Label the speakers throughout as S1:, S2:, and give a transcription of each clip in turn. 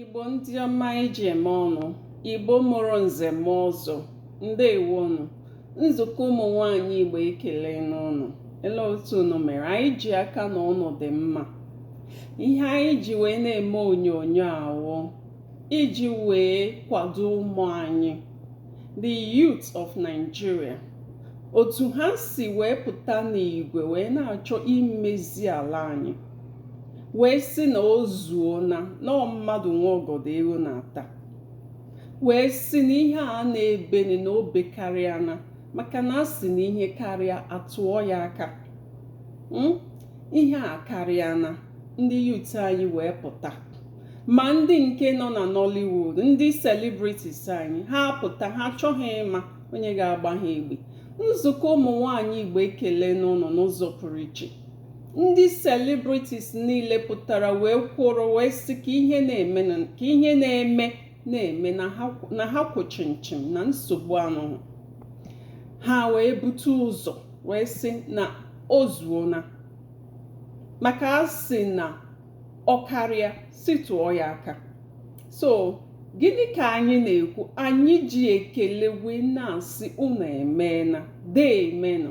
S1: Igbo ndị ọma anyị ji eme ọnụ Igbo mụrụ nze mụọ ọzọ ndewonu nzukọ ụmụ nwanyị Igbo ekelena ụnụ ele otu unu mere anyị ji aka na ụnụ dị mma ihe anyị ji wee na-eme onyonyo a wụ iji wee kwado ụmụ anyị the youth of Nigeria otu ha si wee pụta n'igwe wee na-achọ imezi ala anyị wee sị na o zuona na ọ mmadụ nwe ọgọdọ eghu na-ata wee sị na ihe a na-ebeni na o bekarịana maka na a sị na ihe karịa a tụọ ya aka hmm? ihe akarịana ndị youth anyị wee pụta ma ndị nke nọ na nollywood ndị celebrities anyị ha apụta ha achọghị ịma onye ga-agba ha egbe nzukọ ụmụ nwanyị igbo ekelena ụnụ n'ụzọ pụrụ iche ndị celebrities niile pụtara wee kwụrụ wee sị ka ihe na-eme na-eme na ha kwụ chịm chịm na nsogbu anọghị ha wee bute ụzọ wee sị na o zuona maka a sị na ọ karịa sị tụọ ya aka so gịnị ka anyị na-ekwu anyị ji ekele wee na-asị unu emeena deemenụ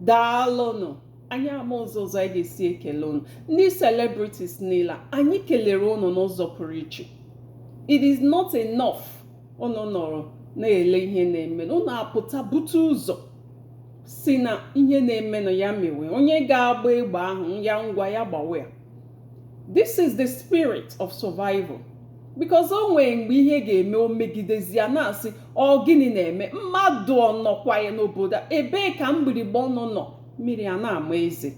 S1: daalụnụ anyị ama ụzọ ụzọ anyị ga-esi ekele unu ndị celebrities niile anyị kelere unu n'ụzọ pụrụ iche it is not enough unu nọrọ na-ele ihe na-emenụ unu apụta bute ụzọ sị na ihe na-emenụ ya mewe onye ga-agba egbe ahụ ya ngwa ya gbawe ya this is the spirit of survival because o nwere mgbe ihe ga-eme o megidezie a na-asị ọ gịnị na-eme mmadụ ọ nọkwa ya n'obodo ebee ka mgbirigba ọnụ nọ mmiri a na-ama eze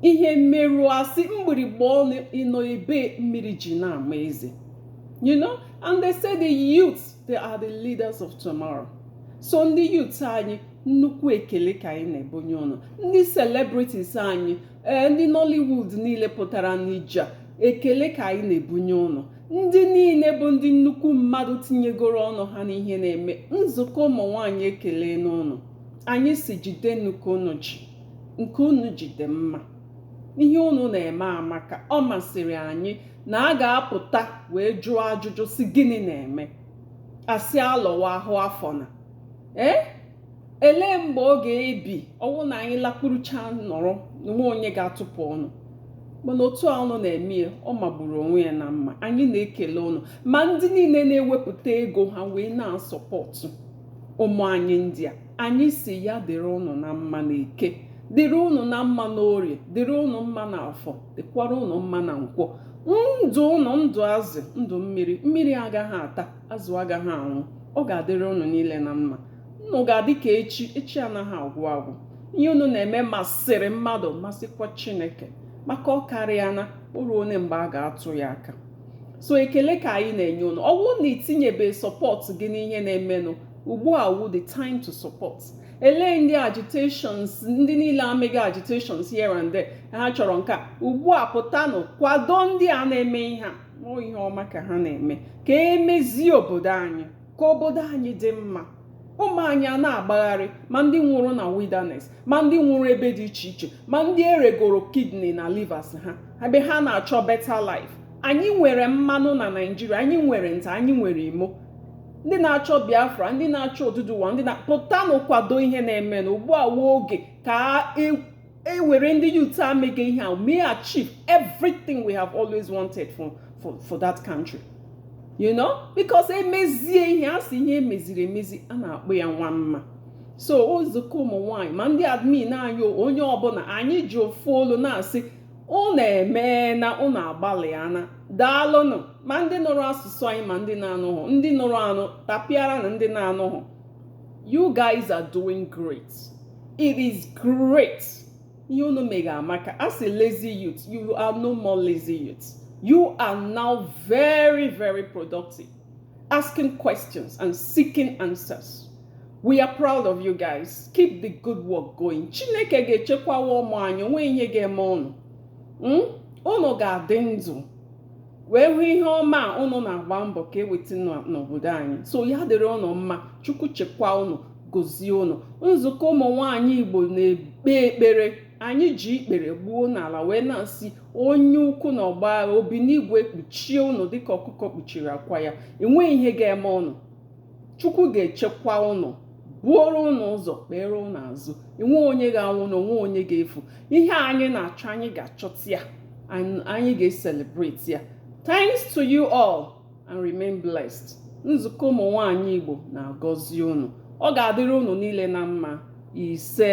S1: ihe mere a sị mgbirigba ọnụ ị nọ ebee mmiri ji na-ama eze you know and they say the youth they are the leaders of tomorrow so ndị youth anyị nnukwu ekele ka anyị na-ebunye unu ndị celebrities anyị ee ndị nollywood niile pụtara n'ije ekele ka anyị na-ebunye ụnụ ndị niile bụ ndị nnukwu mmadụ tinyegoro ọnụ ha n'ihe na-eme nzukọ ụmụ nwaanyị ekelena ụnụ anyị sị jidenụ ka ụnụ ji nke ụnụ ji dị mma ihe ụnụ na-eme amaka ọ masịrị anyị na a ga-apụta wee jụọ ajụjụ sị gịnị na-eme a sị alọwa ahụ afọ na ee eh? elee mgbe ọ ga-ebi ọwụ na anyị lakpurucha nọrọ nwe onye ga-atụpụ ọnụ mana otu a ụnụ na-eme ya ọ magburu onwe ya na mma anyị na-ekele ụnụ ma ndị niile na-ewepụta ego ha wee na-asọpọtụ ụmụ anyị ndị a anyị sị ya dịrị ụnụ na mma na eke dịrị ụnụ na mma na orie dịrị ụnụ mma na afọ dịkwara ụnụ mma na nkwọ ndụ ụnụ ndụ azụ ndụ mmiri mmiri agaghị ata azụ agaghị anwụ ọ ga-adịrị ụnụ niile na mma ụnụ ga-adị ka echi echi anaghị agwụ agwụ ihe unu na-eme masịrị mmadụ masịkwa chineke maka ọ karịa na o ruo onye mgbe a ga-atụ ya aka so ekele ka anyị na-enye ụnụ ọ bụrụ na itinyebe sọpọtụ gị n'ihe na-emenụ ugbu a wụ the time to support elee ndị agitations ndị niile amega agitations here and there ha chọrọ nke a ugbu a pụtanụ kwado ndị a na-eme ihe a ọ ihe ọma ka ha na-eme ka emezie obodo anyị ka obodo anyị dị mma ụmụ anyị a na-agbagharị ma ndị nwụrụ na wilderness ma ndị nwụrụ ebe dị iche iche ma ndị eregoro kidney na livers ha ebe ha na-achọ better life anyị nwere mmanụ na naijiria anyị nwere nta anyị nwere imo ndị na-achọ biafra ndị na-achọ oduduwa ndị na pụtanụ kwado ihe na-emenụ ugbu a wụ oge ka e e were ndị youth a mega ihe a mee achieve everything we have always wanted for, for, for that country you know because emezie ihe a sị ihe emeziri emezi a na-akpọ ya nwa mma so nzukọ ụmụ nwanyị ma ndị admin anyị onye ọbụla anyị ji ofu olu na-asị unu emeena unu agbalịana daalụnụ ma ndị nụrụ asụsụ anyị ma ndị na-anụghụ ndị nụrụ anụ tapịaranụ ndị na-anụghụ you guys are doing great it is great ihe unu mega amaka a sị lazy youth you are no more lazy youth you are now very very productive asking questions and seeking answers we are proud of you guys keep the good work going chineke ga-echekwawa ụmụ anyị onweghị ihe ga-eme ụnụ ụnụ ga-adị ndụ wee hụ ihe ọma a ụnụ na-agba mbọ ka eweta n'obodo anyị so ya dịrị ụnụ mma chukwu chekwa ụnụ gozie ụnụ nzukọ ụmụ nwaanyị igbo na-ekpe ekpere anyị ji ikpere gbuo n'ala wee na-asị onye ukwu na ọgbọ agha obi n'igwe kpuchie ụnụ dịka ọkụkọ kpuchiri akwa ya enweghị ihe ga-eme ụnụ chukwu ga-echekwa ụnụ buoro ụnụ ụzọ kpeere ụnụ azụ enweghị onye ga-anwụ na onweghị onye ga-efu ihe anyị na-achọ anyị ga-achọta ya anyị ga-eselebreti ya thanks to you all and remain blessed nzukọ ụmụ nwanyị igbo na-agọzi ụnụ ọ ga-adịrị ụnụ niile na mma ise